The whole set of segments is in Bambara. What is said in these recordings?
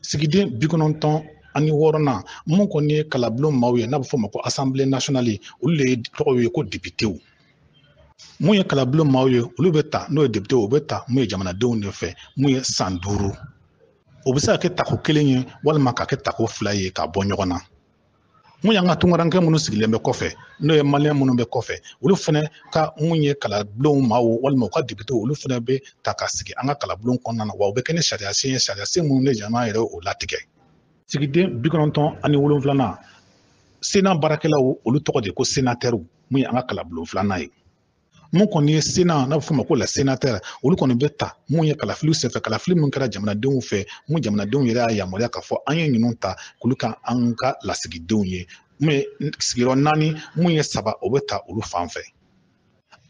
sigiden bi kɔnɔntɔn ani wɔɔrɔnan mun kɔni ye kalabulon maaw ye n'a bɛ fɔ o ma ko asanbile nasiyɔnali olu de ye tɔgɔw ye ko depitew mun ye kalabulon maaw ye olu bɛ ta n'o ye depitew o bɛ ta mun ye jamanadenw de fɛ mun ye san duuru o bɛ se ka kɛ tako kelen ye walima ka kɛ tako fila ye ka bɔ ɲɔgɔn na mun y'an ka tungarankɛ minnu sigilen bɛ kɔfɛ n'o ye maliyɛn minnu bɛ kɔfɛ olu fana ka mun ye kalabulon maaw walima u ka depitew olu fana bɛ ta ka sigi an ka kalabulon kɔnɔna na wa u bɛ kɛ ni sariya sen ye sariya sen minnu bɛ jamana yɛrɛ o latigɛ sigiden bi kɔnɔntɔn ani wolonwulanan sena baarakɛlaw olu tɔgɔ de ko senatɛriw mun ye an ka kalabulon filanan ye mun kɔni ye sena n'a bɛ fɔ o ma ko la senatɛri olu kɔni bɛ ta mun ye kalafiliw senfɛ kalafili mun kɛra jamanadenw fɛ mun jamanadenw yɛrɛ y'a yamaruya k'a fɔ an ye ninnu ta k'olu kɛ an ka lasigidenw ye mun ye sigiyɔrɔ naani mun ye saba o bɛ ta olu fan fɛ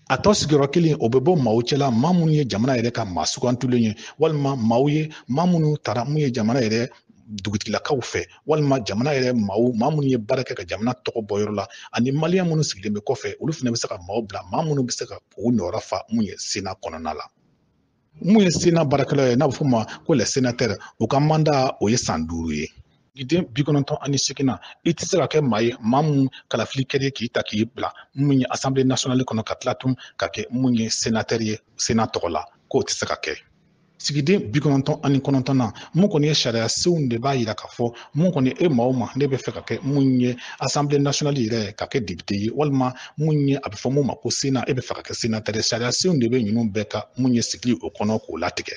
a tɔ sigiyɔrɔ kelen o bɛ bɔ maaw cɛla maa minnu ye jamana yɛrɛ ka maa sugantulen ye walima maaw ye maa minnu tara mun ye jamana yɛrɛ dugutigilakaw fɛ walima jamana yɛrɛ maaw maa minnu ye baara kɛ ka jamana tɔgɔ bɔ yɔrɔ la ani maliyɛn minnu sigilen bɛ kɔfɛ olu fana bɛ se ka maaw bila maa minnu bɛ se ka u nɔyɔrɔ fa mun ye sena kɔnɔna la mun ye sena baarakɛlaw ye n'a bɛ fɔ o ma ko la senatɛri u ka manda o ye san duuru ye sigiden bi kɔnɔntɔn ani seginnan i tɛ se ka kɛ maa ye maa mun kalafili kɛra k'i ta k'i bila mun ye asanbile nasiyɔnali kɔnɔ ka tila tun ka kɛ mun ye senatɛri ye sena tɔgɔ la k'o tɛ se ka kɛ sigiden bi kɔnɔntɔn ani kɔnɔntɔnnan mun kɔni ye sariya senw de b'a yira k'a fɔ mun kɔni e maa o maa ne bɛ fɛ ka kɛ mun ye asanbile nasiyɔnali yɛrɛ ka kɛ depite ye walima mun ye a bɛ fɔ mun ma ko sena e bɛ fɛ ka kɛ senatɛri ye sariya senw de bɛ ninnu bɛɛ ka mun ye sigili o kɔnɔ k'o latigɛ